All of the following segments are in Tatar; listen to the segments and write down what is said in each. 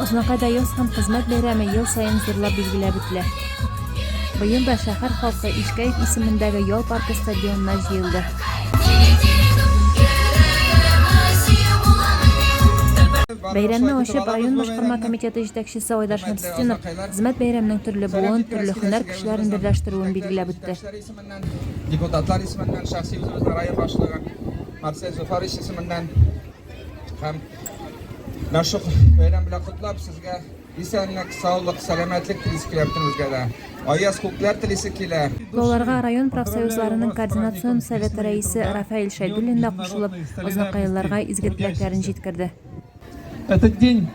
Азнакайда яз һәм хезмәт бәйрәме ел саен зурлап билгеләп үтелә. Быел да шәһәр халкы Ишкәев исемендәге Ял паркы стадионына җыелды. Бәйрәмне ачып, район башкарма комитеты җитәкчесе Айдар Шәмсетдинов хезмәт бәйрәменең төрле буын, төрле һөнәр кешеләрен берләштерүен билгеләп үтте. Депутатлар исеменнән, шәхси үзебезнең район башлыгы Марсель Зуфарович исеменнән Һәм Мәшук бәйрәм белән котлап сезгә исәнлек, саулык, сәламәтлек телис килә бөтенебезгә дә. Аяз күкләр телисе килә. Балаларга район профсоюзларының координацион советы рәисе Рафаэль Шәйдуллин да кушылып, азнакайлыларга изге теләкләрен җиткерде. Этот день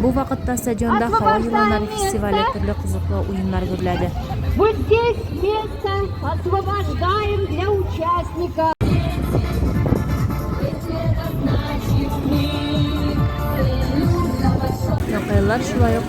Бу вакытта стадионда һава еланнары фестивале төрле кызыклы уеннар гөрләде. Вот здесь место освобождаем для участников. Якайлар шулай ук